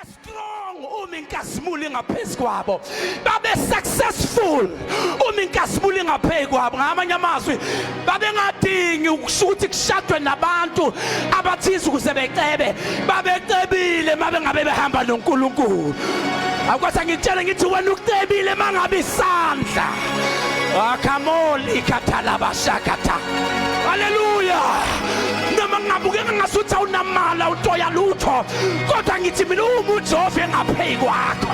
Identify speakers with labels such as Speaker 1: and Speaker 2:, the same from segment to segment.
Speaker 1: strong uma inkazimulo ingaphezu kwabo babe successful uma inkazimulo ingaphezu kwabo ngamanye amazwi babengadingi ukusho ukuthi kushadwe nabantu abathize ukuze becebe babecebile uma bengabe behamba nonkulunkulu akwasa ngitshele ngithi wena ukucebile uma ngabe isandla akamoli kathalabashakatha haleluya noma ngingabukeka ngasuthi awunamali awutoya lutho kodwa ngithi mina uma uJehova engapheyi kwakho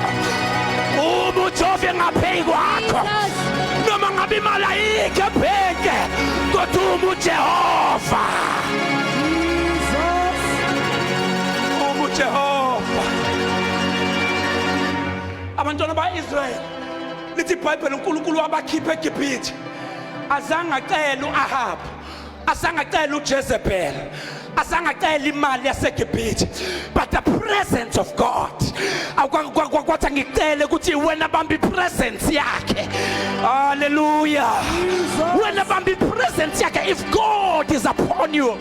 Speaker 1: uma uJehova engapheyi kwakho noma ngabe imali ayikho ebhenke kodwa uma uJehova uma uJehova abantwana ba-Israyeli lithi ibhayibheli unkulunkulu wabakhipha egibhithe azange acele u-ahabu asangacela uJezebel asangacela imali yaseGibhithe but the presence of God kwathi angicele ukuthi wena bamba ipresence yakhe haleluya wena bamba ipresence yakhe if God is upon you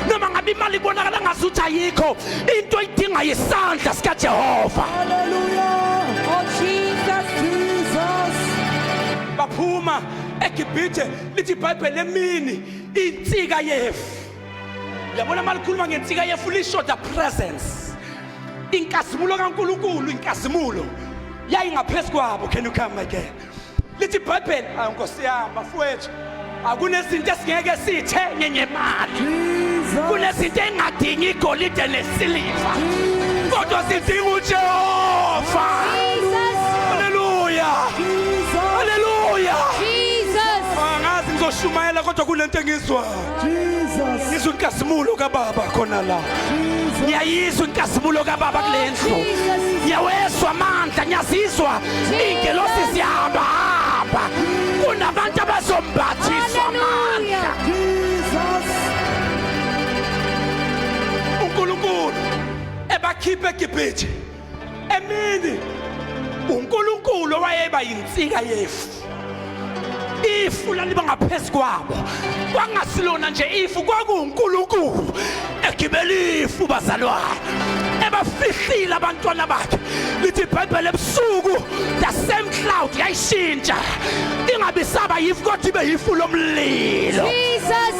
Speaker 1: noma ngabe imali ibonakala ngazuthi ayikho into idinga isandla sika Jehova haleluya
Speaker 2: oh Jesus Jesus
Speaker 1: baphuma eGibhithe lithi ibhayibheli emini insika yefu yabona uma likhuluma ngensika yefu lishoda presence inkazimulo kankulunkulu inkazimulo yayingaphezu kwabo can you come again lithi ibhayibheli awu nkosi yami bafowethu akunezinto esingeke sithenye ngemali kunezinto engadingi igolide nesiliva kodwa sidinga uJehova haleluya haleluya angazi ngizoshumayela kodwa kunento engizwa ngizwa inkazimulo kababa khona la ngiyayizwa inkazimulo kababa kule ndlu ngiyawezwa amandla ngiyazizwa iy'ngelosi zihamba hamba kunabantu abazombathiswa amandla uNkulunkulu ebakhipha eGibhithe emini uNkulunkulu owayeba yinsika yefu ifu laliba ngaphezu kwabo kwangasilona nje ifu kwakuwuNkulunkulu egibela ifu bazalwane ebafihlile abantwana bakhe lithi ibhayibheli ebusuku the same cloud yayishintsha ingabi saba yifu kodwa ibe yifu lomlilo Jesus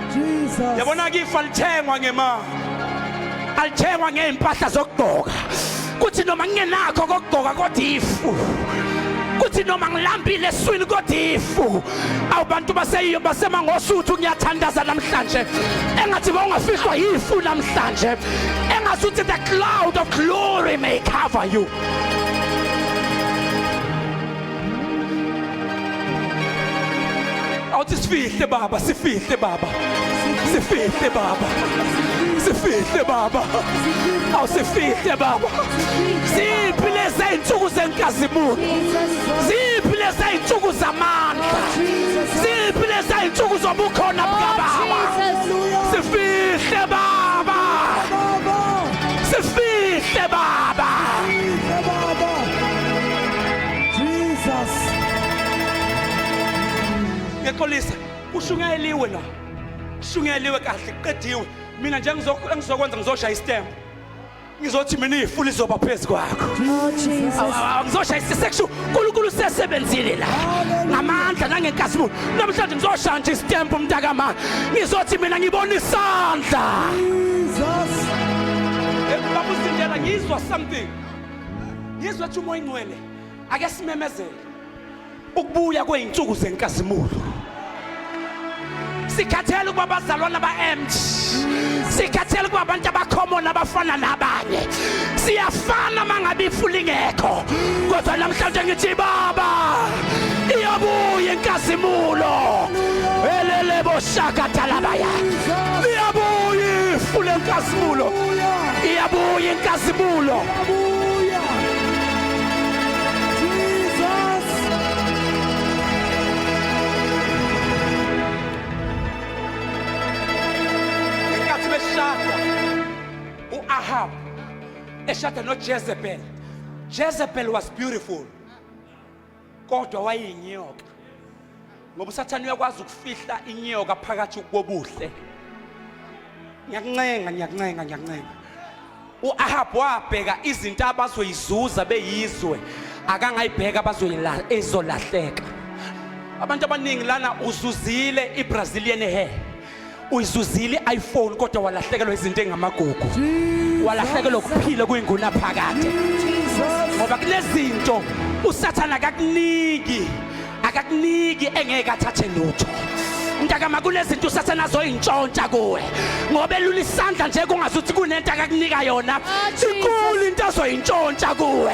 Speaker 1: yabona-ke ifa lithengwa ngemali alithengwa ngey'mpahla zokugqoka kuthi noma ngingenakho kokugqoka kodwa ifu kuthi noma ngilambile eswini kodwa ifu awubantu baseyiyo basemangosuthu ngiyathandaza namhlanje engathi bawungafihlwa yifu namhlanje engathi uthi the cloud of glory may cover you awuthi sifihle baba sifihle baba sifihle baba sifihle baba awusifihle baba ziphi lezi iy'nsuku zenkazimulo ziphi lezi iy'nsuku zamandla ziphi lezi iy'nsuku zobukhona bukababa sifihle baba sifihle baba Jesus. Ngiyaxolisa. Ushungeliwe la. Shungeliwe kahle qediwe. Mina nje ngizokwenza ngizoshaya istembu. ngizothi mina ifu lizoba phezu kwakho oh, ngizoshaya isisexu unkulunkulu usesebenzile la ngamandla nangenkazimulo namhlanje ngizoshaya nje isitempu umntakamana ngizothi mina ngibona isandla eh, babuzindela ngizwa something ngizwe ukuthi umoya ingcwele ake simemezele ukubuya kwey'nsuku zenkazimulo sikhathele ukuba abazalwana ba-emt sikhathele ukuba abantu abakhomona abafana nabanye siyafana uma ngabe ifu lingekho kodwa namhlanje ngithi baba iyabuya inkazimulo eleleboshakadalabaya liyabuya ifu lenkazimulo iyabuya inkazimulo iyabuya Jesus inkathi beshada uAhab eshada noJezebel Jezebel was beautiful kodwa wayeyinyoka ngoba usathane uyakwazi ukufihla inyoka phakathi kobuhle ngiyakuncenga ngiyakuncenga ngiyakuncenga u-ahabu wabheka izinto abazoyizuza beyizwe akangayibheka ezolahleka abantu abaningi lana uzuzile i-brazilian hair uyizuzile i-iphone kodwa walahlekelwa izinto engamagugu walahlekelwa ukuphila kuyinguna phakade ngoba kunezinto usathane akakuniki akakuniki engeke athathe lutho mntakama kunezinto usathane azoyintshontsha kuwe ngoba elula isandla nje kungazuthi kunento akakunika yona oh, inkulu into azoyintshontsha kuwe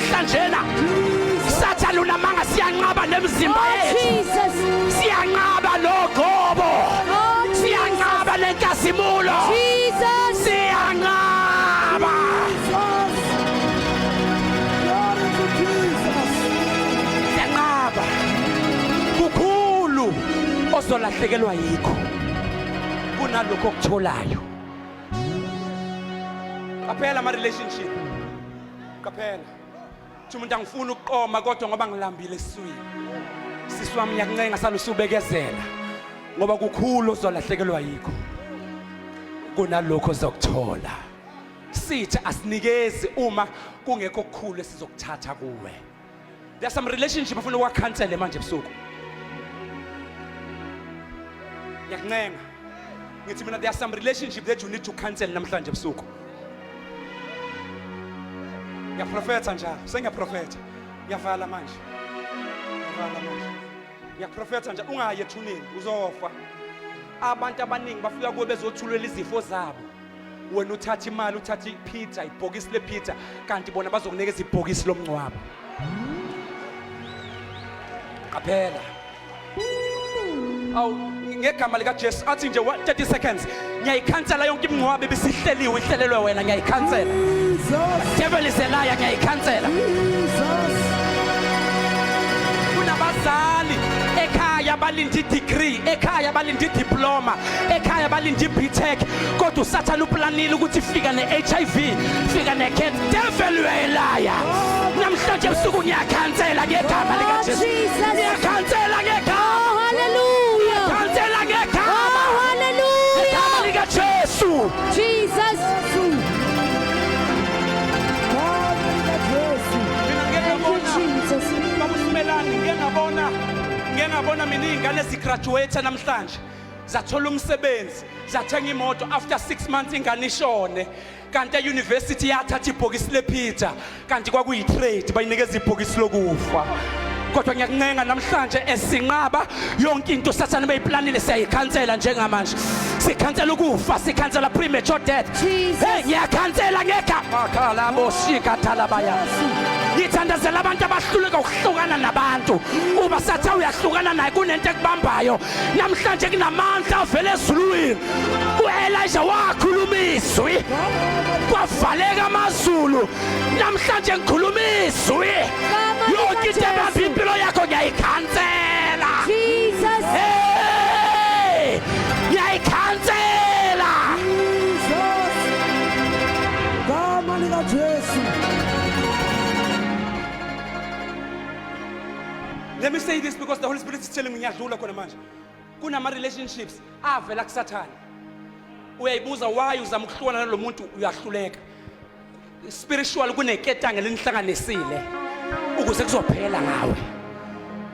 Speaker 1: Hlanjena. Sathane unamanga siyanqaba nemizimba oh, yethu.
Speaker 2: Siyanqaba
Speaker 1: nogobo. Oh,
Speaker 2: siyanqaba
Speaker 1: nenkazimulo. Jesus.
Speaker 2: Siyanqaba.
Speaker 1: Siyanqaba. Kukhulu osolahlekelwa yikho kunalokho okutholayo. Qaphela ama relationship. qaphela thi umuntu angifuni ukuqoma kodwa ngoba ngilambile esiswini sisi wami ngiyakuncenga sale usubekezela ngoba kukhulu ozolahlekelwa yikho kunalokho ozokuthola sithi asinikezi uma kungekho kukhulu esizokuthatha kuwe There are some relationship ufuna uwa cancel manje ebusuku. Ngiyakuncenga. Ngithi mina there are some relationship that you need to cancel namhlanje ebusuku. Ngiyaprofetha njalo. Sengiyaprofetha. Ngiyavala manje. Ngiyavala manje. Ngiyaprofetha njalo ungayi ethuneni uzofa. Abantu abaningi bafika kuwe bezothulela izifo zabo. wena uthatha imali uthatha ipizza ibhokisi lepizza kanti bona bazokunikeza ibhokisi lomngcwabo qaphela awu ngegama likajesu athi nje 30 seconds ngiyayikhansela yonke imingcwabo ibisihleliwe ihlelelwe wena ngiyayikhansela devil is a liar ngiyayikhansela kunabazali ekhaya balinde i-degree ekhaya balinde i-diploma ekhaya balinde ibtech kodwa usathane uplanile ukuthi fika ne-hiv fika ne-cat devil uyayelaya namhlanje busuku ngiyakhansela ngegama likajesu ngiyakhansela ngegama haleluya
Speaker 2: khansela
Speaker 1: ngegama haleluya
Speaker 2: ngegama likajesu jesus
Speaker 1: ngiyabona mina iy'ngane zigraduate namhlanje zathola umsebenzi zathenga imoto after 6 months ingane ishone kanti euniversity yathatha ibhokisi lephitha kanti kwakuyitrade bayinikeza ibhokisi lokufa kodwa ngiyakuncenga namhlanje esinqaba yonke into usathane beyiplanile siyayikhansela njengamanje sikhansela ukufa sikhansela premature death hey ngiyakhansela ngegama khala boshika thalabaya ngithandazela abantu abahluleka ukuhlukana nabantu uba sathi uyahlukana naye kunento ekubambayo namhlanje kunamandla avela ezulwini uElisha wakhuluma izwi kwavaleka amazulu namhlanje ngikhuluma izwi yonke into ebamba impilo yakho ngiyayikhansela Jesus
Speaker 2: hey
Speaker 1: ngiyayikhansela Jesus
Speaker 2: gama lika Jesu
Speaker 1: Let me say this because the Holy Spirit is telling me ngiyadlula khona manje. Kunama relationships avela kuSathane. Uyayibuza why uzama ukuhlukana nalomuntu uyahluleka. Spiritual kuneketanga lenihlanganisile ukuze kuzophela ngawe.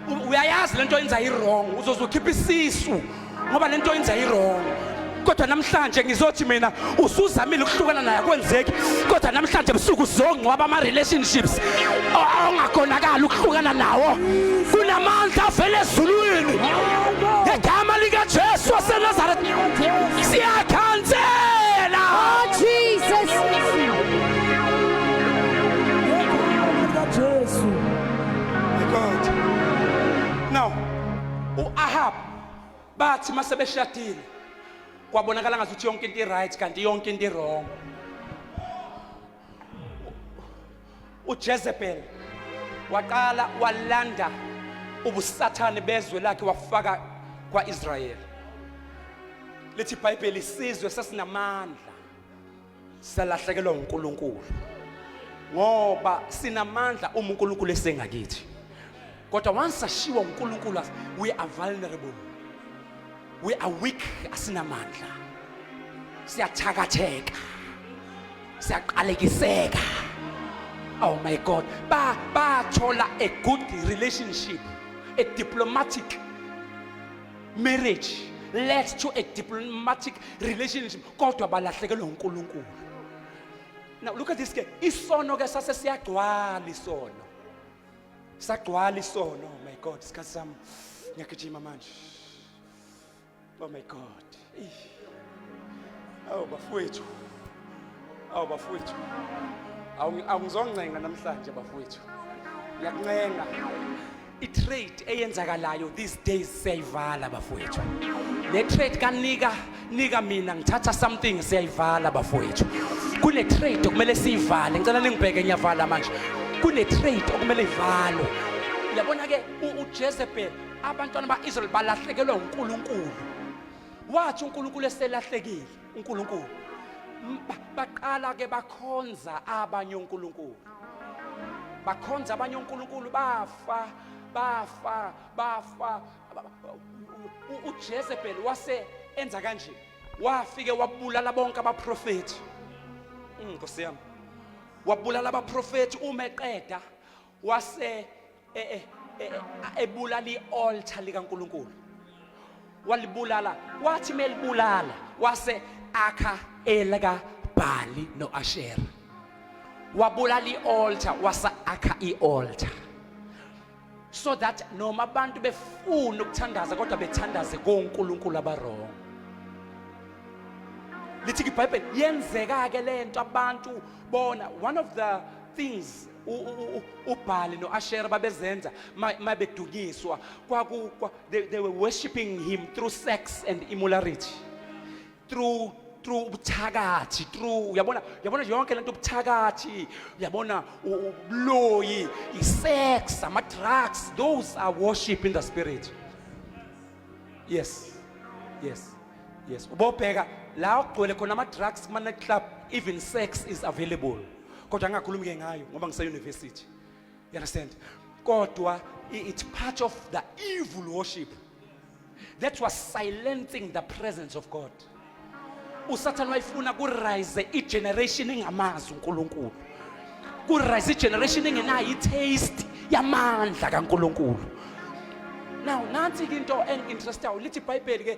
Speaker 1: U- Uyayazi lento yenza i wrong uzozokhipha isisu ngoba lento yenza irong kodwa namhlanje ngizothi mina usuzamile ukuhlukana naye kwenzeki kodwa namhlanje busuku uzongcwaba ama-relationships ongakonakali ukuhlukana nawo kunamandla avele ezulwini ngegama likajesu wasenazaretha siyakhansela oh,
Speaker 2: jesus
Speaker 1: now u-ahab bathi uma sebeshadile kwabonakala ngathi ukuthi yonke into i-right kanti yonke into i-wrong ujezebel waqala walanda ubusathane bezwe lakhe wafaka kwa-israyeli lithi ibhayibheli isizwe sesinamandla salahlekelwa uNkulunkulu ngoba sinamandla uma uNkulunkulu esengakithi kodwa once ashiwa uNkulunkulu we are vulnerable we are weak asinamandla siyathakatheka siyaqalekiseka oh my god ba bathola a good relationship a diplomatic marriage led to a diplomatic relationship kodwa balahlekelwa uNkulunkulu now look at this ke isono ke sase siyagcwala isono sagcwala isono oh my god isikhathi sami ngiyagijima manje oh my god awu bafowethu awu bafowethu awungizoncenga namhlanje bafowethu ngiyakuncenga i-trade eyenzakalayo these days siyayivala bafowethu le trade kanika nika mina ngithatha something siyayivala bafowethu kune trade okumele siyivale ngicela ningibheke ngiyavala manje kune trade okumele ivalwe yabona ke uJezebel abantwana baIsrael balahlekelwa uNkulunkulu wathi uNkulunkulu eselahlekile uNkulunkulu baqala ke bakhonza abanye uNkulunkulu bakhonza abanye onkulunkulu bafa bafa bafa ujezebheli wase enza kanje wafike wabulala bonke abaprofethi mm, nkosi yami wabulala abaprofethi uma eqeda wase e, e, e, ebulala i-altar likaNkulunkulu walibulala wathi melibulala wase akha elika Bhali noAshera wabulala ialtar wasa akha ialtar so that noma abantu befuna ukuthandaza kodwa bethandaze koNkulunkulu abarong lithi ibhayibheli yenzeka ke lento abantu bona one of the things ubhali no-ashera babezenza mabedunyiswa they were worshiping him through sex and immorality through through ubuthakathi through uyabona uyabona nje yonke lento ubuthakathi uyabona ubuloyi isex ama-drugs those are worship in the spirit yes yes yes ubobheka la okugcwele khona ama-drugs kuma-night club even sex is available kodwa angakhulumi ke ngayo ngoba ngise university you understand kodwa it's part of the evil worship that was silencing the presence of god usathane wayifuna kurise igeneration engamazi uNkulunkulu kurise igeneration engenayo itaste yamandla kaNkulunkulu now nansi ke into enginterestayo lithi ibhayibheli ke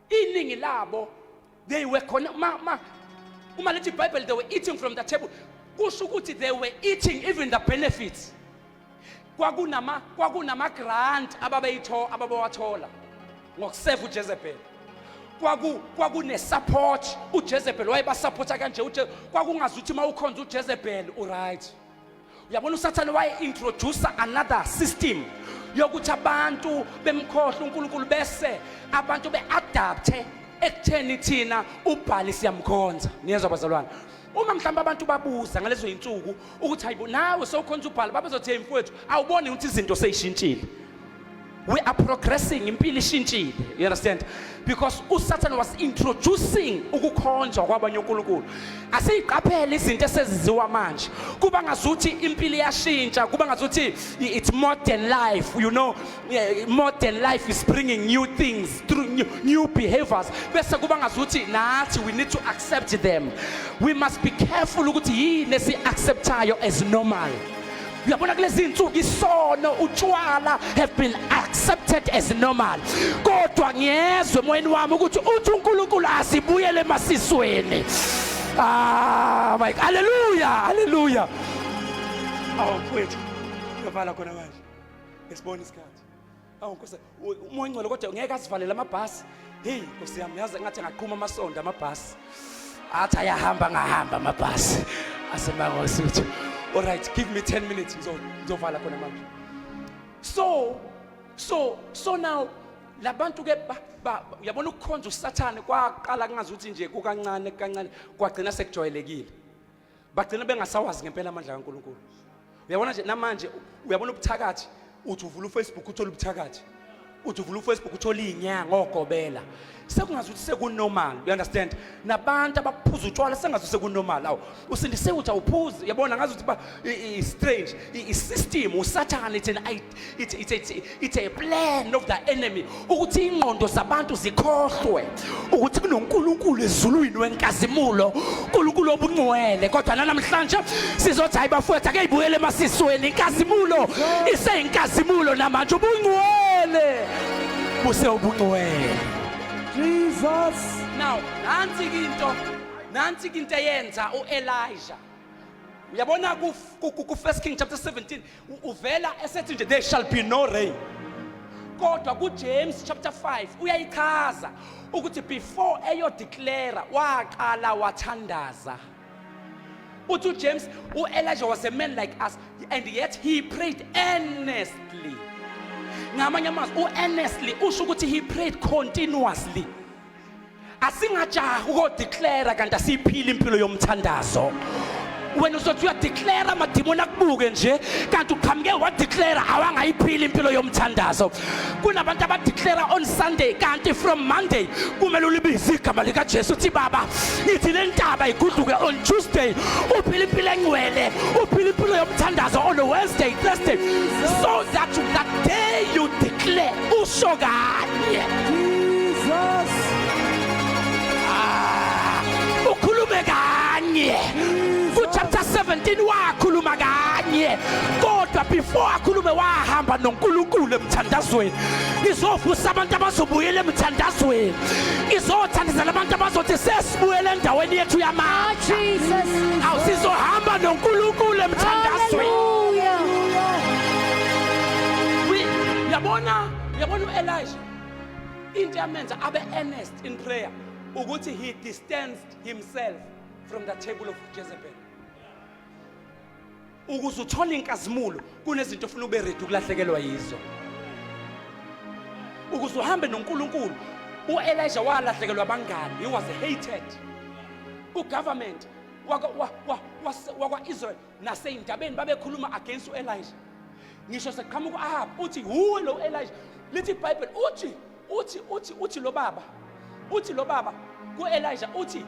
Speaker 1: iningi labo they were khona ma ma uma lithi bible they were eating from the table kusho ukuthi they were eating even the benefits kwakunama kwakunama grant ababeyitho ababawathola ngokuseva uJezebel kwaku kwakune support uJezebel wayebasupporta kanje uje kwakungazi ukuthi mawukhonza uJezebel uright uyabona usathane waye-introducer another system yokuthi abantu bemkhohle unkulunkulu bese abantu be-adapthe ekutheni thina ubhali siyamkhonza niyezwa bazalwane uma mhlawumbe abantu babuza ngalezo yinsuku ukuthi hayibo nawe sewukhonza ubhala babezothi hey mfowethu awuboni ukuthi izinto seyishintshile we are progressing impilo ishintshile you understand because usatan was introducing ukukhonjwa kwabanye unkulunkulu asiyiqaphele izinto eseziziwa manje kuba ngazuthi impilo iyashintsha kuba ngazuthi it's modern life you know modern life is bringing new things through new, new behaviors bese kuba ngazuthi nathi we need to accept them we must be careful ukuthi yini esiacceptayo as normal uyabona kulezi insuku isono utshwala have been accepted as normal kodwa ngiyezwe emoyeni wami ukuthi uthi uNkulunkulu asibuyele emasisweni ah my haleluya haleluya awukwethu uyovala khona manje ngesibona isikhathi Awu Nkosi, umoya ongcwele kodwa ngeke asivalele amabhasi. Hey, Nkosi yami, yazi ngathi angaqhuma amasonto amabhasi. Athi ayahamba ngahamba amabhasi. Asemangosi uthi, "All right, give me 10 minutes ngizo ngizovala khona manje." So, so, so now labantu ke uyabona ukukhonza usathane kwaqala kungazi ukuthi nje kukancane kancane kwagcina sekujwayelekile bagcina bengasawazi ngempela amandla kaNkulunkulu uyabona nje namanje uyabona ubuthakathi uthi uvula ufacebook uthole ubuthakathi uthi uvula ufacebook uthole iy'nyanga ogobela sekungazi ukuthi sekunormal you understand nabantu abaphuza utshwala sengazi ukuthi sekunormal awu usindise ukuthi awuphuzi yabona ngazi ukuthi ba i-strange i-system usathane ithena It's, it's, it's, it's a plan of the enemy ukuthi ingqondo zabantu zikhohlwe ukuthi kunonkulunkulu ezulwini wenkazimulo unkulunkulu obungcwele kodwa nanamhlanje sizothi hayi bafowethu akeyibuyele emasisweni inkazimulo iseyinkazimulo namanje ubungcwele buse ubungcwele jesus
Speaker 2: now
Speaker 1: nansi into nansi into eyenza uelija uyabona ku-first king chapter 17 uvela esethi nje there shall be no rain kodwa kuJames chapter 5 uyayichaza ukuthi before eyo declare waqala wathandaza uthi uJames uElijah was a man like us and yet he prayed earnestly ngamanye amazwi uearnestly usho ukuthi he prayed continuously asingajaha ukodeclara kanti asiyiphili impilo yomthandazo wena uzothi uyadeclara amadimoni akubuke nje kanti uqhamuke wadeclara awangayiphili impilo yomthandazo kunabantu abadeclara on sunday kanti from monday kumele ulibize igama likajesu uthi baba ithi le ntaba iguduke on tuesday uphila impilo engcwele uphila impilo yomthandazo on wednesday thursday so that that day you declare usho kanye
Speaker 2: Jesus
Speaker 1: ah, ukhulume kanye ku chapter 17 wakhuluma kanye kodwa before akhulume wahamba noNkulunkulu emthandazweni ngizovusa abantu abazobuyela emthandazweni ngizothandazela abantu abazothi sesibuyele endaweni yethu yamandla ah,
Speaker 2: awusizohamba
Speaker 1: noNkulunkulu emthandazweni Yabona, yabona uElisha into yamenza abe earnest in prayer ukuthi he distanced himself from the table of Jezebel. Ukuze uthole inkazimulo kunezinto ofuna ube ready ukulahlekelwa yizo. Ukuze uhambe noNkulunkulu uElisha walahlekelwa abangani, he was hated. UGovernment wakwa-Israel nasey'ndabeni babekhuluma against u-elija ngisho seqhamuka u-ahab uthi wuwe lo elija lithi ibhayibheli uthi uthi uthi uthi lo baba uthi lo baba ku-elija uthi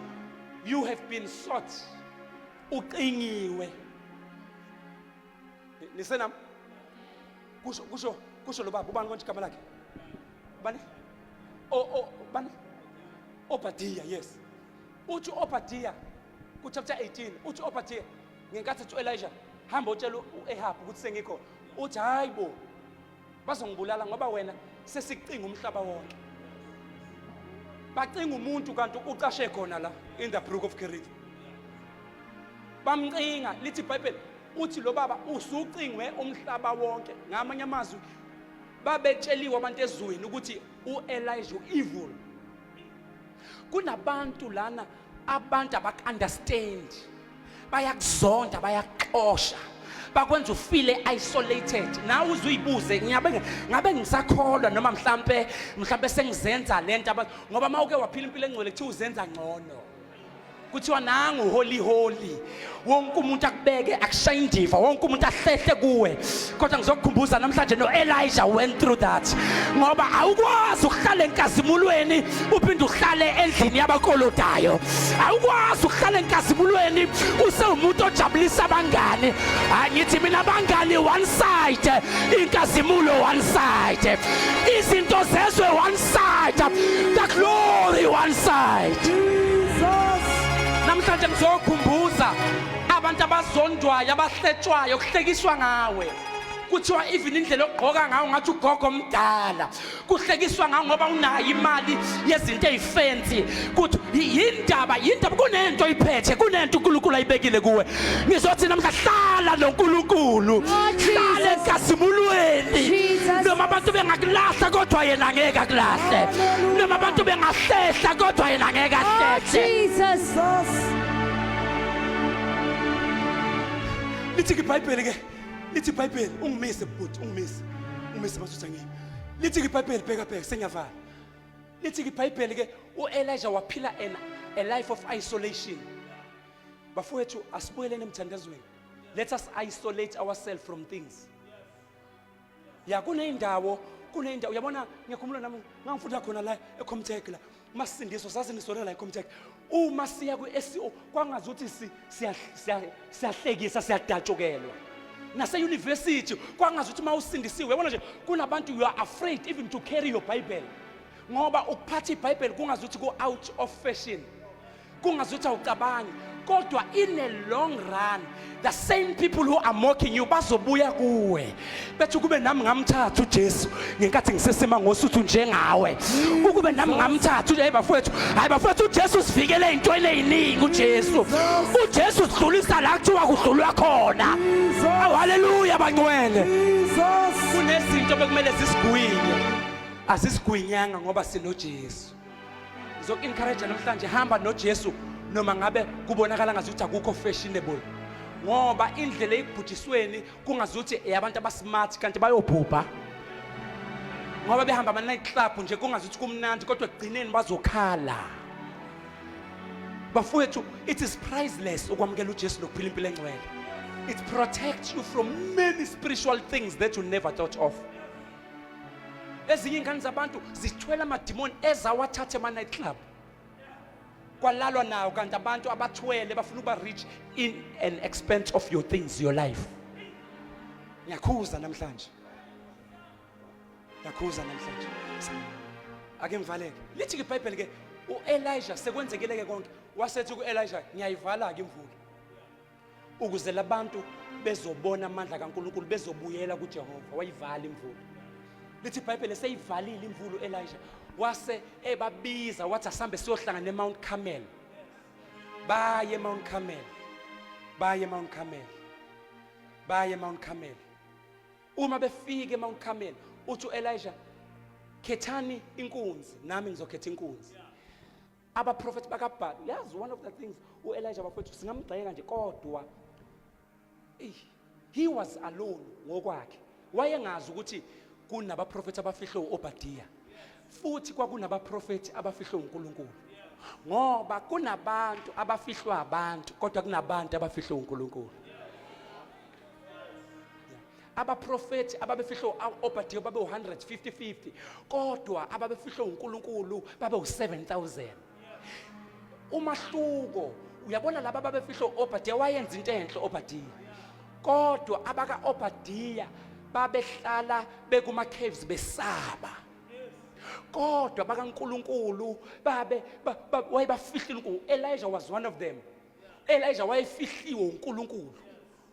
Speaker 1: you have been sought uqingiwe nisenam kusho kusho kusho lo baba ubani konje igama lakhe bani o o bani obadiya yes uthi obadiya kuchapter 18 uthi ophathiya ngenkathi ethi u-elija hamba otshela u-ehabu ukuthi sengikho uthi hayi bo bazongibulala ngoba wena sesicinga umhlaba wonke bacinga umuntu kanti ucashe khona la in the brook of kerith bamcinga lithi ibhayibheli uthi lo baba usucingwe umhlaba wonke ngamanye amazwi babetsheliwe abantu ezweni ukuthi u-elija u-evil kunabantu lana abantu abakunderstand bayakuzonda bayakuxosha bakwenza ufile isolated nawe uze uyibuze ngiyabe ngabe ngisakholwa noma mhlambe mhlambe sengizenza lento ngoba mawuke waphila impilo engcwele kuthiwa uzenza ngcono kuthiwa nangu holy holy wonke umuntu akubeke akushaye indiva wonke umuntu ahlehle kuwe kodwa ngizokukhumbuza namhlanje no-elija went through that ngoba awukwazi ukuhlala enkazimulweni uphinde uhlale endlini yabakolodayo awukwazi ukuhlala enkazimulweni usewumuntu ojabulisa abangani angithi mina abangani one side inkazimulo one side izinto zezwe one side the glory one side
Speaker 2: namhlanje
Speaker 1: ngizokhumbuza abantu abazondwayo abahletshwayo kuhlekiswa ngawe kuthiwa even indlela okugqoka ngawo ngathi ugogo omdala kuhlekiswa ngawo ngoba unayo imali yezinto eyifensi kuthi yindaba yindaba kunento oyiphethe kunento uNkulunkulu ayibekile kuwe ngizothi namhla hlala noNkulunkulu oh, hlala enkazimulweni noma abantu bengakulahla kodwa yena ngeke akulahle noma abantu bengahlehla kodwa yena ngeke oh, ahlehle lithi ibhayibheli ke lithi ibhayibheli ungimise bhuti ungimise ungimise masutha ngimi lithi ibhayibheli bheka bheka sengiyavala lithi ibhayibheli ke uElijah waphila a life of isolation bafowethu asibuyeleni emthandazweni let us isolate ourselves from things ya kuney'ndawo kuney'ndawo uyabona ngiyakhumula nami ngangifunda khona la ecomtech la masindiso sasindisolela la ecomtech uma siya kwi-sco kwangazi ukuthi siyahlekisa siyadatshukelwa naseyunivesithi kwangazi ukuthi uma usindisiwe yabona nje kunabantu you are afraid even to carry your bible ngoba ukuphatha ibhayibheli kungazi ukuthi ku-out of fashion kungazuthi awucabangi kodwa in a long run the same people who are mocking you bazobuya kuwe bethi ukube nami ngamthatha uJesu ngenkathi ngisesima ngosuthu njengawe ukube nami ngamthatha hayi bafowethu hayi bafowethu uJesu sivikele ezintweni eziningi uJesu uJesu sidlulisa la kuthiwa kudlulwa khona awu haleluya bangcwele kunezinto bekumele sisigwinye asisigwinyanga ngoba sinoJesu Ngizoku-encourage namhlanje hamba noJesu noma ngabe kubonakala ngazuthi akukho fashionable. Ngoba indlela eyibhujisweni kungazuthi eyabantu abasmart kanti bayobhubha. Ngoba behamba ama night club nje kungazuthi kumnandi kodwa ekugcineni bazokhala. Bafowethu it is priceless ukwamukela uJesu nokuphila impilo engcwele. It protects you from many spiritual things that you never thought of. ezinye ingane zabantu zithwele amadimoni ezawathathe ama-night club kwalalwa nawo kanti abantu abathwele bafuna ukuba rich in an expense of your things your life ngiyakhuza namhlanje ngiyakhuza namhlanje ake ngivaleke lithi ibhayibheli ke uElisha sekwenzekeleke konke wasethi kuElisha ngiyayivala ke imvula ukuze labantu bezobona amandla kaNkulunkulu bezobuyela kuJehova wayivala imvula lithi iBhayibheli seyivalile imvula uElisha wase ebabiza wathi asambe siyohlangana eMount Carmel baye eMount Carmel baye eMount Carmel baye eMount Carmel uma befike eMount Carmel uthi uElisha khethani inkunzi nami ngizokhetha inkunzi abaprofethi bakabhali uyazi one of the things uelija bafowethu singamgxeka nje kodwa he was alone ngokwakhe wayengazi ukuthi kunabaprofethi abafihlwe u-obadiya futhi kwakunabaprofethi abafihlwe unkulunkulu ngoba kunabantu abafihlwa abantu kodwa kunabantu abafihlwe unkulunkulu abaprofethi ababefihlwe u-obadiya babe u-150 50 kodwa ababefihlwe unkulunkulu babe u-7000 umahluko uyabona laba ababefihlwe u-obadiya wayenza into enhle obadiya kodwa abaka-obadiya babehlala bekuma-caves besaba kodwa bakankulunkulu babe wayebafihlile unkulunkulu elijah was one of them elijah wayefihliwe unkulunkulu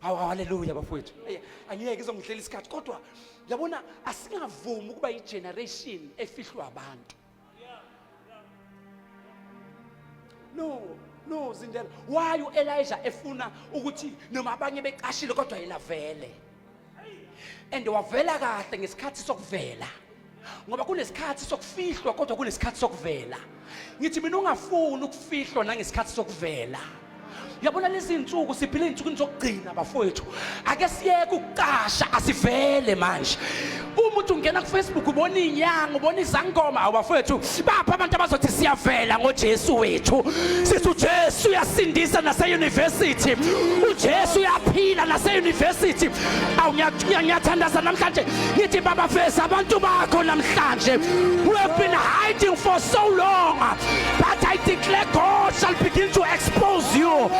Speaker 1: Hawu haleluya bafowethu. Ey, Angiyeke izongidlela isikhathi kodwa yabona asingavumi ukuba igeneration efihlwa abantu. No, no Zindela. Why uElijah efuna ukuthi noma abanye becashile kodwa yena vele. And wavela kahle ngesikhathi sokuvela. ngoba kunesikhathi sokufihlwa kodwa kunesikhathi sokuvela ngithi mina ungafuni ukufihlwa nangesikhathi sokuvela yabona lezi nsuku siphila izinsukwini zokugcina bafowethu ake siyeke ukucasha asivele manje umuntu ungena kufacebook ubona inyanga ubona izangoma awubafowethu Sibapha abantu abazothi siyavela ngoJesu wethu. Sithi uJesu uyasindisa nase university. uJesu uyaphila nase university awu ngiyathandaza namhlanje ngithi baba fesa abantu bakho namhlanje we have been hiding for so long but I declare God shall begin to expose you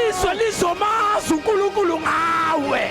Speaker 1: izwe lizomazi uNkulunkulu ngawe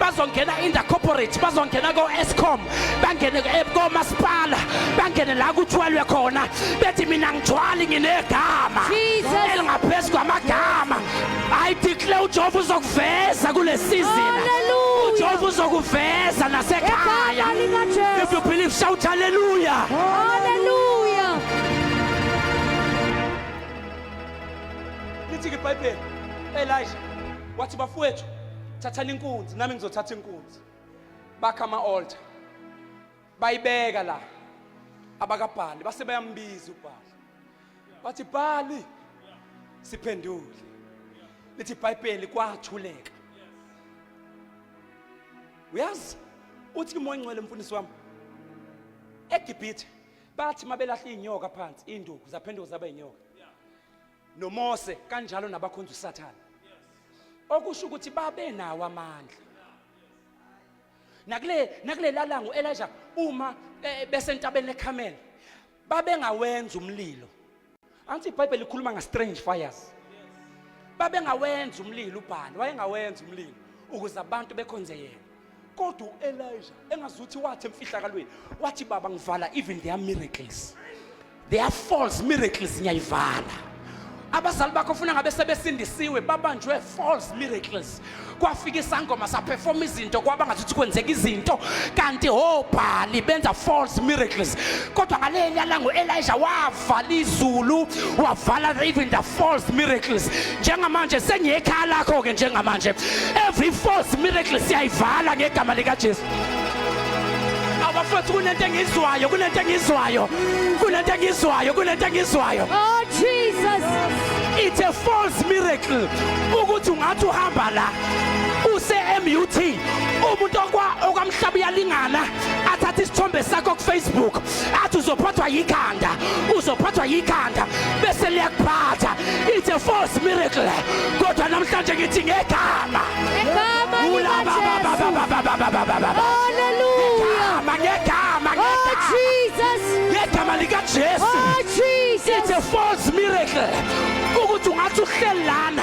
Speaker 1: bazongena in the corporate bazongena ko-escom bangene eh, komasipala bangene la kuthwalwe khona bethi mina ngithwali nginegama elingaphezu kwamagama i declare ujehova uzokuveza kule sizini ujehova
Speaker 3: uzokuveza
Speaker 1: nasekhaya if you believe shout haleluya haleluya lithi-ke ibhayibheli elisha wathi bafowethu thathani inkunzi nami ngizothatha inkunzi bakha ama-altar bayibeka la abakabhali base bayambiza ubhali bathi bhali siphendule lithi ibhayibheli kwathuleka uyazi uthi umoya ngcwele mfundisi wami egibhithe bathi mabelahla inyoka phansi induku zaphenduka zaba inyoka noMose kanjalo nabakhonza uSathane okusho ukuthi babe nawo amandla nakule nakulelalango Elijah uma eh, besentabeni leCarmel babengawenza umlilo anti iBhayibheli likhuluma nga strange fires babengawenza umlilo ubhalo wayengawenza umlilo ukuze abantu bekhonze yena kodwa uElijah engazuthi wathi emfihlakalweni wathi baba ngivala even their miracles their false miracles ngiyayivala abazali bakho ufuna ngabe sebesindisiwe babanjwe false miracles kwafika isangoma saperforma izinto kwaba ngathi kwenzeka izinto kanti hobhali benza false miracles kodwa ngaleli yalango Elijah wav wavala izulu wavala even the false miracles njengamanje sengiyekhaya lakho ke njengamanje every false miracle siyayivala ngegama lika Jesu abafethu kunento engizwayo kunento engizwayo kunento engizwayo kunento engizwayo oh jesus
Speaker 3: it's a
Speaker 1: false miracle ukuthi ungathi uhamba la use MUT umuntu okwa okwamhlaba uyalingana athatha isithombe sakho ku Facebook athi uzophathwa yikhanda uzophathwa yikhanda bese liyakuphatha it's a false miracle kodwa namhlanje ngithi ngegama ngegama
Speaker 3: ulaba baba baba baba baba baba hallelujah ngegama
Speaker 1: ngegama oh jesus
Speaker 3: ngegama lika
Speaker 1: jesu oh jesus
Speaker 3: it's a
Speaker 1: false
Speaker 3: miracle
Speaker 1: ukuthi ungathi uhlelana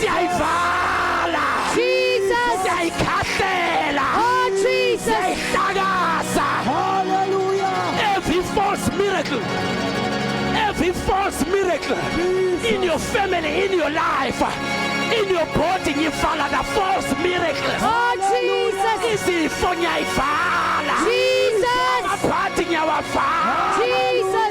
Speaker 1: siyayivala Jesus
Speaker 3: siyayikhahlela
Speaker 1: oh Jesus
Speaker 3: siyayihlakaza
Speaker 1: hallelujah
Speaker 2: every false
Speaker 1: miracle every false miracle in your family in your life in your body ngivala the false miracles oh
Speaker 3: Jesus izifo
Speaker 1: ngiyayivala Jesus
Speaker 3: aphathi
Speaker 1: ngiyawavala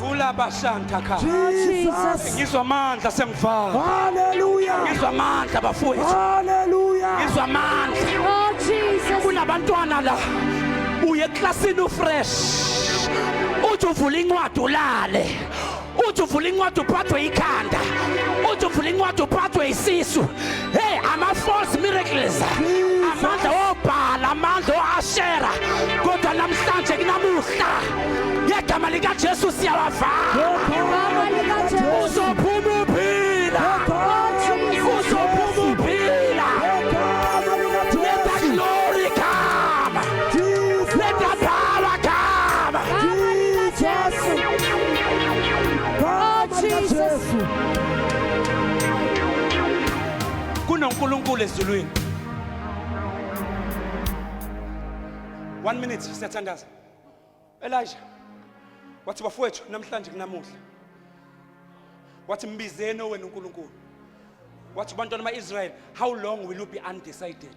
Speaker 2: Vula abashanka
Speaker 1: kha. Jesus. Ngizwa
Speaker 2: amandla
Speaker 1: sengivala. Hallelujah.
Speaker 2: Ngizwa amandla
Speaker 1: bafowethu. Hallelujah.
Speaker 2: Ngizwa amandla.
Speaker 1: Oh Jesus.
Speaker 3: Kunabantwana
Speaker 1: la. Uye eklasini ufresh. Uthi uvula incwadi ulale. Uthi uvula incwadi uphathwe ikhanda. Uthi uvula incwadi uphathwe isisu. Hey, ama-false miracles. Amandla obhala, amandla o-ashera. Kodwa namhlanje kunamuhla. Ngegama likaJesu siyawavala.
Speaker 3: Uzophuma
Speaker 1: uphila. Uzophuma uphila. Let the glory come. Let the
Speaker 3: power come.
Speaker 1: kunonkulunkulu ezulwini one minute siyathandaza elijah wathi bafowethu namhlanje kunamuhla wathi mbizeni owenu unkulunkulu wathi bantwana ama-israyeli how long will you be undecided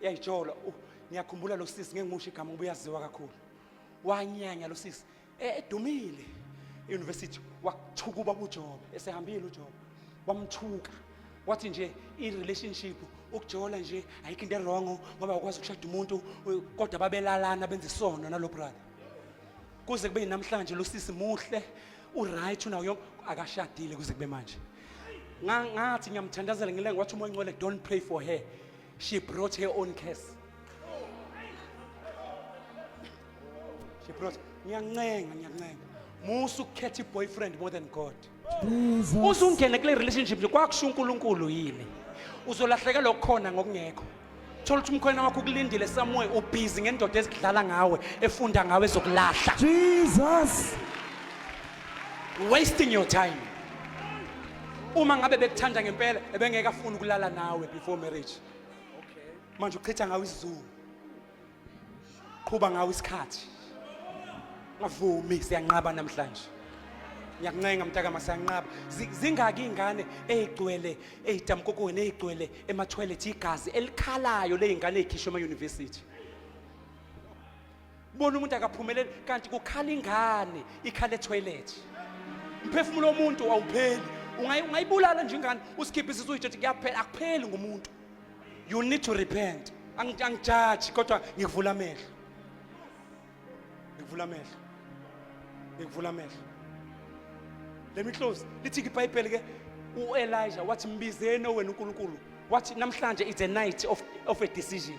Speaker 1: yayijolo uh, ngiyakhumbula lo sisi ngengimusho igama ngoba uyaziwa kakhulu wanyanya lo sisi e- edumile euniversity wathukuba kujobe esehambile ujobe wamthuka wathi nje i-relationship ukujola nje ayikho into erongo ngoba ukwazi ukushada umuntu u- kodwa babelalana benza isono nalo brother kuze kube namhlanje lo sisi muhle uright unawo yonke akashadile kuze kube manje Nga- ngathi ngiyamthandazela ngilenga wathi umoya ongcwele don't pray for her She brought her own curse. She brought ngiyancenga ngiyancenga. Musu ukukhetha boyfriend more than God. Usungene kule relationship nje kwakusho uNkulunkulu yini? Uzolahlekelwa okukhona ngokungekho. Thola ukuthi umkhwena wakho ukulindile somewhere ubhizi ngendoda ezidlala ngawe efunda ngawe ezokulahla. Jesus. Wasting your time. uma ngabe bekuthanda ngempela ebengeke afuna ukulala nawe before marriage manje uchitha ngawo isizungu qhuba ngawo isikhathi ngavumi siyanqaba namhlanje ngiyakuncenga mntaka masanqaba zingaki ingane ezigcwele ezidamkokweni ezigcwele emathwelethi igazi elikhalayo lezingane ezikhishwe ema university bona umuntu akaphumeleli kanti kukhala ingane ikhala etoilet mphefumulo womuntu awupheli ungayibulala nje ingane usikhiphe isisu uyitshethi kuyaphela akupheli ngumuntu you need to repent angijaji kodwa ngikuvula amehlo ngikuvula amehlo ngikuvula amehlo let me close lithi ibhayibheli ke uElijah wathi mbizeni owena uNkulunkulu wathi namhlanje it's a night of, of a decision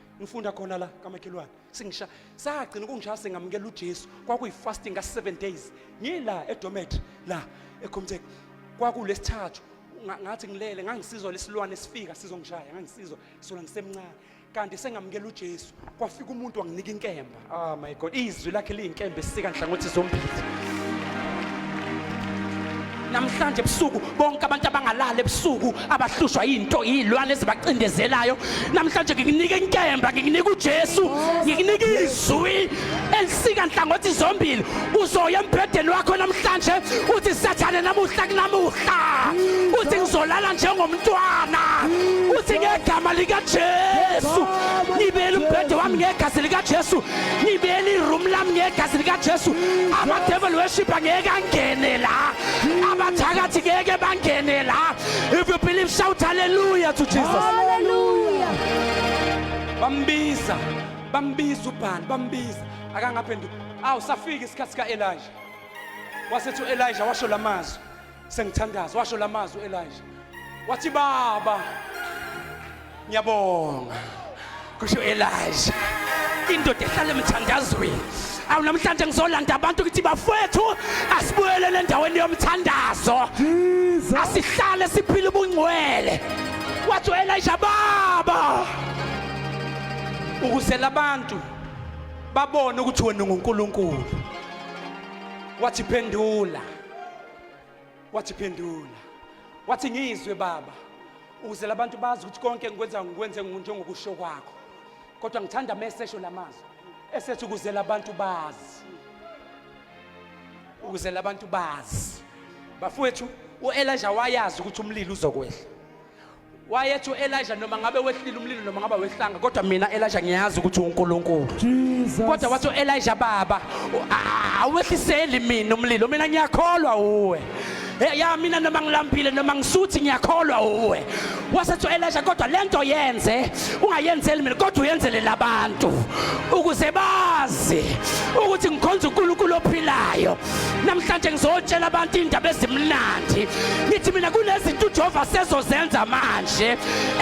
Speaker 1: ngifunda khona la kamakhelwane singisha sagcina ukungishaya singamukela uJesu kwakuyi-fasting ka-seven days ngila edomet la ekhomtek kwakulesithathu ngathi ngilele ngangisizwa lesilwane sifika sizongishaya ngangisizwa sola ngisemncane kanti sengamukela uJesu kwafika umuntu wanginika inkemba Oh my God, izwi lakhe liyinkembe esika nhlangothi zombili. Namhlanje ebusuku bonke abantu abangalala ebusuku abahlushwa into izilwane ezibacindezelayo. Namhlanje ngikunika inkemba, ngikunika uJesu, ngikunika izwi elisika nhlangothi zombili. uzoya embhedeni wakho namhlanje uthi sathane namuhla kunamuhla uthi ngizolala njengomntwana uthi ngegama likajesu ngibele umbhede wami ngegazi likajesu ngibele iroom lami ngegazi likajesu amadevil worshipa ngeke angene la abathakathi ngeke bangene la if you believe shout hallelujah to jesus hallelujah
Speaker 3: bambiza
Speaker 1: bambiza ubhani bambiza akangaphenduka awu safika isikhathi sika-elija wasethi u-elija washo la mazwi sengithandaza washo la mazwi u-elija wathi baba ngiyabonga kusho u-elija indoda ehlala emthandazweni awu namhlanje ngizolanda abantu ukuthi bafowethu asibuyelele endaweni yomthandazo
Speaker 2: asihlale siphile
Speaker 1: ubungcwele wathi u-elija baba ukuzela abantu babone ukuthi wena unguNkulunkulu wathi phendula wathi phendula wathi ngizwe baba ukuze labantu bazi ukuthi konke ngikwenza ngikwenze njengokusho kwakho kodwa ngithanda mesesho lamazwi esethi ukuze labantu bazi ukuze labantu bazi bafowethu uElisha wayazi ukuthi umlilo uzokwehla wayethi u-elija noma ngabe wehlile umlilo noma ngabe wehlanga kodwa mina elija ngiyazi ukuthi unkulunkulu kodwa
Speaker 2: wathi u-elija
Speaker 1: baba awehliseli mina umlilo mina ngiyakholwa uwe ya mina noma ngilambile noma ngisuthi ngiyakholwa uwe wasethi u-elija kodwa le nto yenze ungayenzeli mina kodwa uyenzele labantu ukuze bazi ukuthi ngikhonza unkulunkulu ophilayo namhlanje ngizotshela abantu indaba ezimnandi ngithi mina kunezinto ujehova sezozenza manje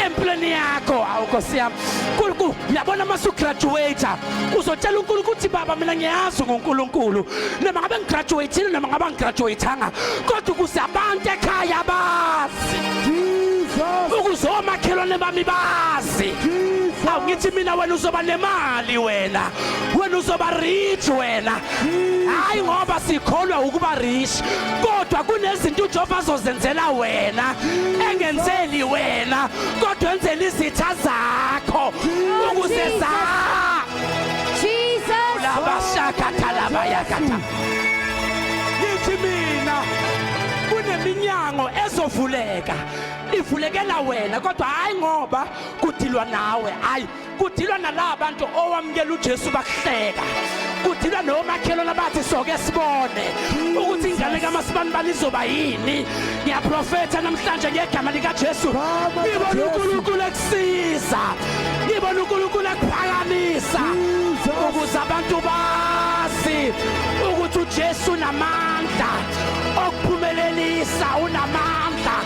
Speaker 1: empilweni yakho awu nkosi yami nkulunkulu yabona uma sugraduwata uzotshela unkulunkulu ukuthi baba mina ngiyazi ngunkulunkulu noma ngabe ngigraduwatile noma ngabe ngigraduwatanga kodwa ukuze abantu ekhaya bazi
Speaker 2: ukuze omakhelwane
Speaker 1: bami bazi awu ngithi mina wena uzoba nemali wena wena uzoba rich wena hayi ngoba sikholwa ukuba rich kodwa kunezinto uJehova azozenzela wena engenzeli wena kodwa enzela izitha zakho ukuze za
Speaker 3: Jesus labashakatha
Speaker 1: labayakatha yithi mina kuneminyango ezovuleka ivulekela wena kodwa hayi ngoba kudilwa nawe hayi kudilwa nalaba bantu owamukela uJesu bakuhleka kudilwa nomakhelwane abathi soke sibone ukuthi ingane kamasibani balizoba yini ngiyaprofetha namhlanje ngegama likaJesu ngibona uNkulunkulu ekusiza ngibona uNkulunkulu ekuphakamisa ukuze abantu bazi ukuthi uJesu namandla okuphumelelisa unamandla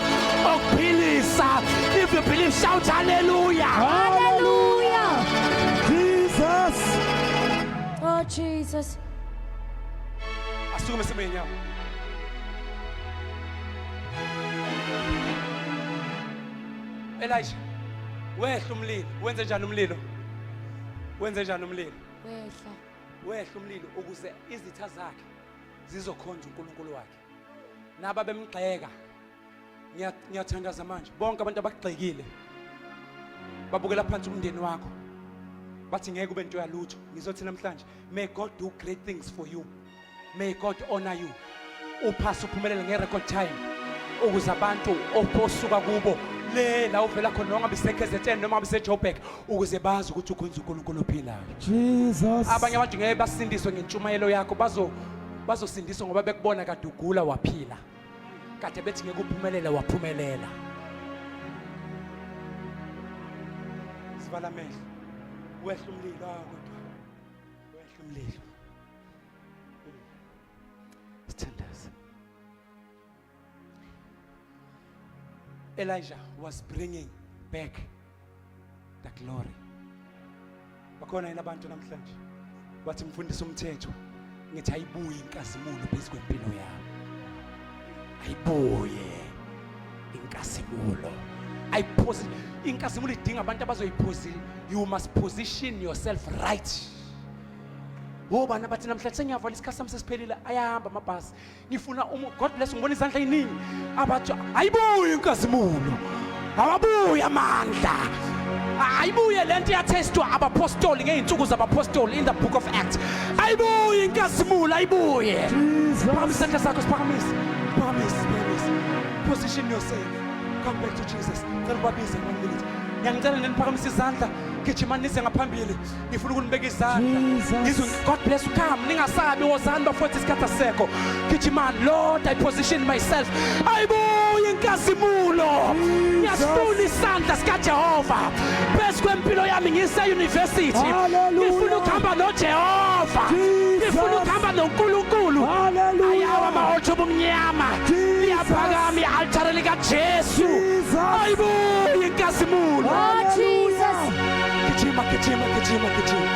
Speaker 1: okuphilisa if you believe shout hallelujah hallelujah
Speaker 2: jesus
Speaker 3: oh jesus
Speaker 1: asukume sime nyawo Elijah wehla umlilo wenze njani umlilo wenze njani umlilo wehla wehla umlilo ukuze izitha zakhe zizokhonza uNkulunkulu wakhe naba bemgxeka ngiyathandaza manje bonke abantu abagxekile babukela phansi umndeni wakho bathi ngeke ube nto yalutho ngizothi namhlanje may god do great things for you may god honor you uphasa uphumelele nge-record time ukuze abantu osuka kubo le la uvela khona noma ngabe isekzn noma ngabe isejoburg ukuze bazi ukuthi ukhonza uNkulunkulu ophilayo Jesus
Speaker 2: abanye abantu ngeke
Speaker 1: basindiswe ngentshumayelo yakho bazo bazosindiswa ngoba bekubona kade ugula waphila kade bethi ngeke uphumelele waphumelela sivala amehlo wehla umlilo ah, kodwa wehla umlilo Elijah was bringing back the glory. Bakhona yini abantu namhlanje? Wathi mfundisa umthetho ngithi ayibuye inkazimulo phezu kwempilo yami. Ayibuye inkazimulo. Ayiphose inkazimulo idinga abantu abazoyiphosi. You must position yourself right. Wobani abathi namhlanje sengiyavala isikhathi sami sesiphelile ayahamba amabhasi. ngifuna um god bless ngibona izandla eziningi abatsha ayibuye inkazimulo awabuye amandla ayibuye le nto iyathestwa abapostoli ngey'nsuku zabapostoli in the book of acts ayibuye inkazimulo ayibuye phakama isandla sakho siphakamise phakamise phakamise position yourself come back to jesus cela ubabize one minute ngiyangicela neniphakamise izandla gijimani nize ngaphambili ngifuna ukunibeka izandla ngizwe god bless you come ningasabi wozani bafowethu isikhathi asekho gijimani lord i position myself ayibuye inkazimulo ngiyasifuna isandla sikajehova phezu kwempilo yami ngiseyunivesithi ngifuna ukuhamba nojehova ngifuna ukuhamba nonkulunkulu ayawo amahotsho obumnyama liyaphakama i-altare likajesu ayibuye inkazimulo
Speaker 3: Gijima, gijima,
Speaker 1: gijima, gijima.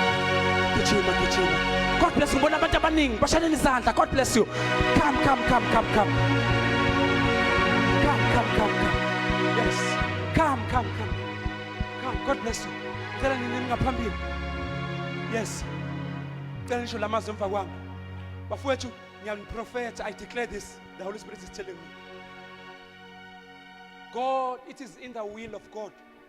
Speaker 3: Gijima, gijima.
Speaker 1: God bless you. Ngibona abantu abaningi bashanela izandla. God bless you. Come, come, come, come, come. Come, come, come, come. Yes. Come, come, come. Come. God bless you. Ngicela nini ningaphambili. Yes. Ngicela nisho lamazwi emva kwami. Bafowethu, ngiyaniprofetha. I declare this. The Holy Spirit is telling me. God, it is in the will of God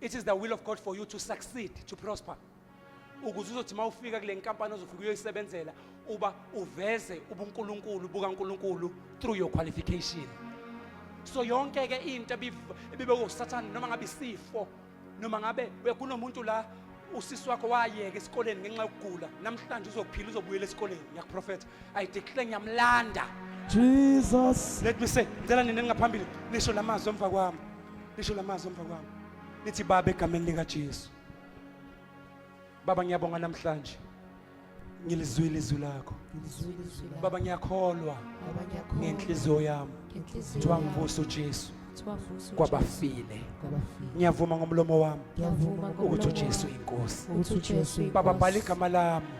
Speaker 1: It is the will of God for you to succeed, to prosper. Ukuze uzothi mawufika kule nkampani ozofika uyoyisebenzela uba uveze ubuNkulunkulu bukaNkulunkulu through your qualification. So yonke ke into ebibe uSathane noma ngabe isifo noma ngabe kunomuntu la usisi wakho wayeka esikoleni ngenxa yokugula namhlanje uzophila uzobuyela esikoleni ngiyakuprofetha i declare ngiyamlanda Jesus
Speaker 2: let me say
Speaker 1: ngicela nina ningaphambili nisho lamazwi emva kwami lisho lamazwi emva kwami nithi baba egameni likaJesu baba ngiyabonga namhlanje ngilizwile izwi lakho baba ngiyakholwa ngenhliziyo yami kuthiwa ngivusa ujesu kwabafile ngiyavuma ngomlomo wami ukuthi ujesu inkosi baba bhala igama lami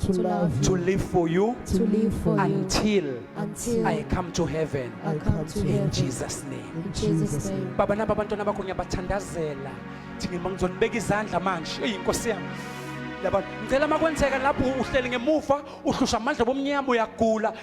Speaker 3: to
Speaker 1: love to you,
Speaker 3: live for
Speaker 1: you to live for you until until I come to heaven. I come to In heaven.
Speaker 3: Jesus' name. In
Speaker 1: Jesus' name.
Speaker 3: baba naba abantwana bakho
Speaker 1: ngiyabathandazela thina uma ngizonibeka izandla manje eyi nkosi yami laba ngicela uma kwenzeka lapho uhleli ngemuva uhlushwa amandla bomnyama uyagula